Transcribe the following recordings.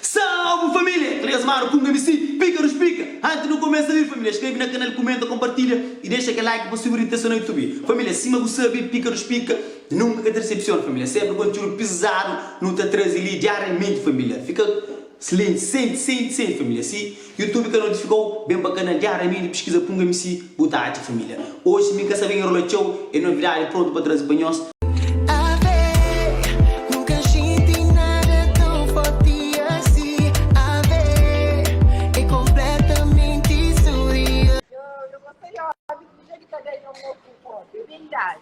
Salve família! Três manu ku un MC, Píkarus Pika! Antis nu kumesa li família, skrebe na kanal, kumenta, konpartilha i dexa kel like pa subi ritesa na Youtube. Família, sima bu sabe, Píkarus Pika nunka ka ta desepsiona família, sénpri kontiúdu pizadu nu ta traze li diariamenti família. Fika slienti, senti, senti, senti família si Youtube ka notifikau ben pa kanal dja Ramiri piskiza punga msi bu ta atxa familia oji mi ka sabe enrola txau e novidadi prontu pa trazi pa nhos. Ave, nunka xinti nada tão forti asi Ave, e completamenti surreal. Yo gosta di obi, ku ki ja di ka da nhon obi un obi, é bem dadu.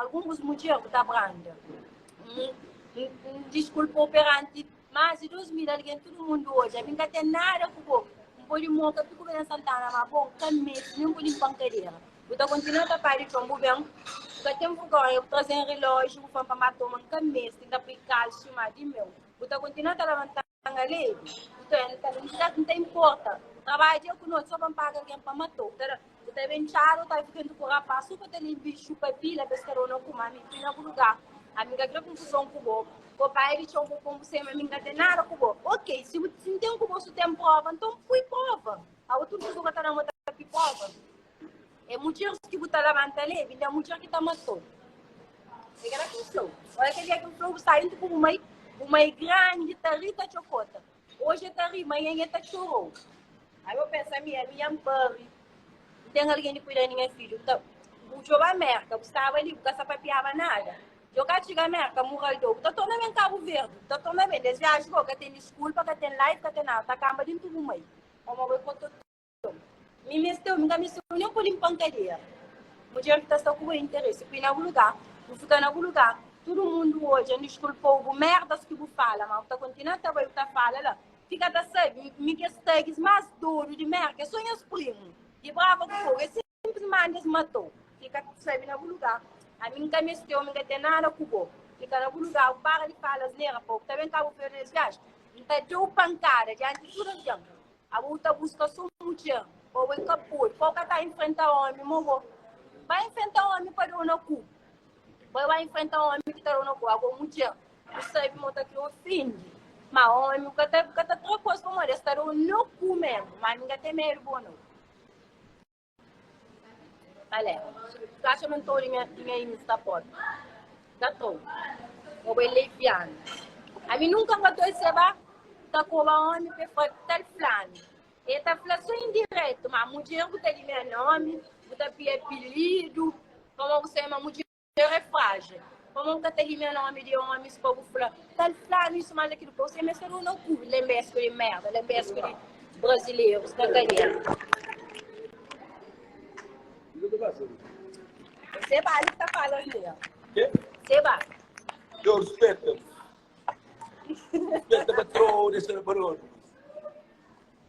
Algun bus mudjer bu ta branda. N diskulpa-u peranti más di dôs mil algen, tudu mundu odja-m. N ka ten nada ku bo. N pode moka tudu ben Santana, má bo N ka meste nen bu linpa-m kadera. Bu ta kontinua ta pâdi txon. Bu ben, bu ka ten vergónha, bu traze-m rilóji, bu fla-m pa mata-u, má N ka meste. N ta poi kalxi, má di-m meu. Bu ta kontinua ta labanta-m. Tanga lei, nton el fla, N ta, N ta inporta. Trabadja ku nos, sô pa N paga algen pa mata-u. Bu ta da, bu ta ben txada, u ta fika juntu ku rapás, su pa ta linbi i xupa pila, pa es ka da-u na kuma. Ami N fika na bu lugar. Ami N ka kre konfuzon ku bo. Bo bai di txeu, bo pô-m bu semi, ami N ka ten nada ku bo. Ok, si bu, si N ten ku bo, si bu ten prova, nton pui prova. Abo tudu ki bu ka ta da-m, bo ta pui prova? É mudjers ki bu ta labanta le, binde é mudjer ki ta matou. É kela ki N fla-u. Ora kel dia ki N fla-u bu sai dentru ku bu mai, bu mai grandi ta ri, ta txokota. Oji e ta ri, manhen e ta txorou. Ai bo pensa, ami, ami nha N pari. N ten algen di kuida di nha fidju. Nta bu djobe Amérka, bu staba li, bu ka sa papiaba nada. Dja bu ka txiga Amérka, muraldó, bu ta torna ben Kabu Verdi, bu ta torna ben. Des viaji bo ka ten diskulpa, ka ten live, ka ten nada, ta kanba dentru ku bu mai. Pamodi bo é kototó. Mi meste un, mi ka meste un nem pa limpa un cadeira. Mudjer ki ta sta ku bo é interesse, pui na bu lugar, bu fika na bu lugar, tudu mundu odja, N diskulpou bu merdas ki bu fala, ma bu ta kontinua ta bai bu ta fala la, fika ta sabi, mi kes thugs mas dodu di merka é so nhas primu, di brava ku fogu, é si. Simplesmente es matou. Fica sabe na bu lugar. A mim nunca me teu, nunca tem nada com bo. Fica na bu lugar, o para de falar asneira, pô. Tá bem cabo feio nesse viagem. Não tá teu pancada diante de tudo avião. A bu tá busca só mulher. Pô, é capô. Pô, cá tá enfrentar homem, morro. Vai enfrentar homem para dar na cu. Vai, vai enfrentar homem que tá dando na cu. Agora mulher, não sabe montar que ofende. Mas homem, cá tá, cá tá três coisas como dessa. Tá dando na cu mesmo. Mas ninguém tem medo, bom, não. Alé, tu atxa ma nton di nha, di nha inis ta pode? Ka tau. Bo bai lei pianu. Ami nunka n ka toi seba ta koba omi pe fa tal flanu. E ta fla so indiretu ma mudjer bu ta di nha nomi, bu ta pia apilidu, pamó bu sabe ma mudjer. Tera é frájil. Pamó N ka ta limia nómi di ómis pa bu fla kal flanu isu más akil. Pa usa meste runa ku lenbesku di merda, lenbesku di brazilerus ka ka dia. Se ba li ta fala asni ya. Se ba. Yo rispeta-m. Rispeta patró, desa-m pa dómi.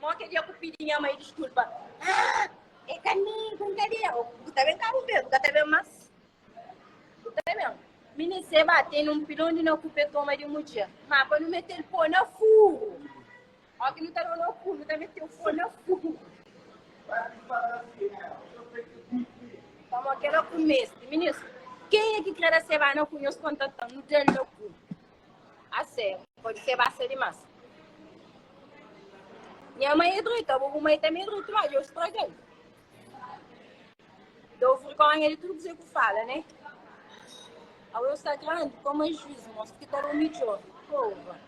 Mo kel dia ku pidi nha mai diskulpa ah e ka mi ku ka dia oh bu ta ben kabu be bu ka ta ben mas bu ta ben mini se ba teni un pilon di na kupe toma di mudjer ma pa nu metel po na furu o ki nu ta dona ku nu ta metel po na furu pa mo kela ku mesti mini ken e ki kre da se ba na ku nhos kontatan nu del na ku A se, pode se basa dimas. Nha mai é druita, bu mai tanbê é druita, mas eu estraguei. Dou vergonha de tudo que eu falo, né? A eu está grande, como é juiz, moço, que tá no melhor. Porra.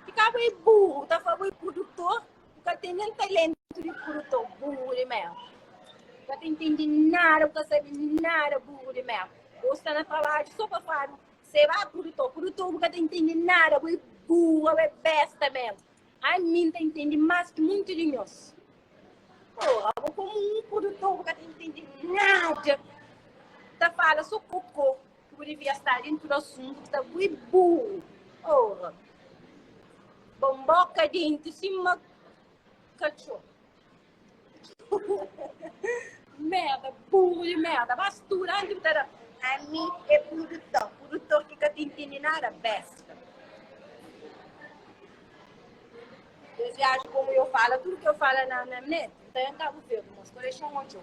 Ficava aí burro, tá falando aí produtor. Bu ka ten nen talentu di fruta, ô burru di merda. Bu ka ta intende nada, bu ka sabe nada, burru di merda. Bo sta na trabadju sô pa fadu seba prudutor. Prudutor, bu ka ta intende nada, bo é burra, bo é besta mésmu. Ami N ta intende más ki monti di nhos. Pôra, bo komu un prudutor, bu ka ta intende nada. Ta fala sô kokô. Ki bu devia sta dentro tudo assunto ta bu e burro oh Bom boca dente sima cachorro merda burro de merda mas tudo antes bu ta da a mim é produtor produtor que ka te entende nada besta Deus viaja como eu falo tudo que eu falo na, na net então eu acabo vendo mas coleção onde eu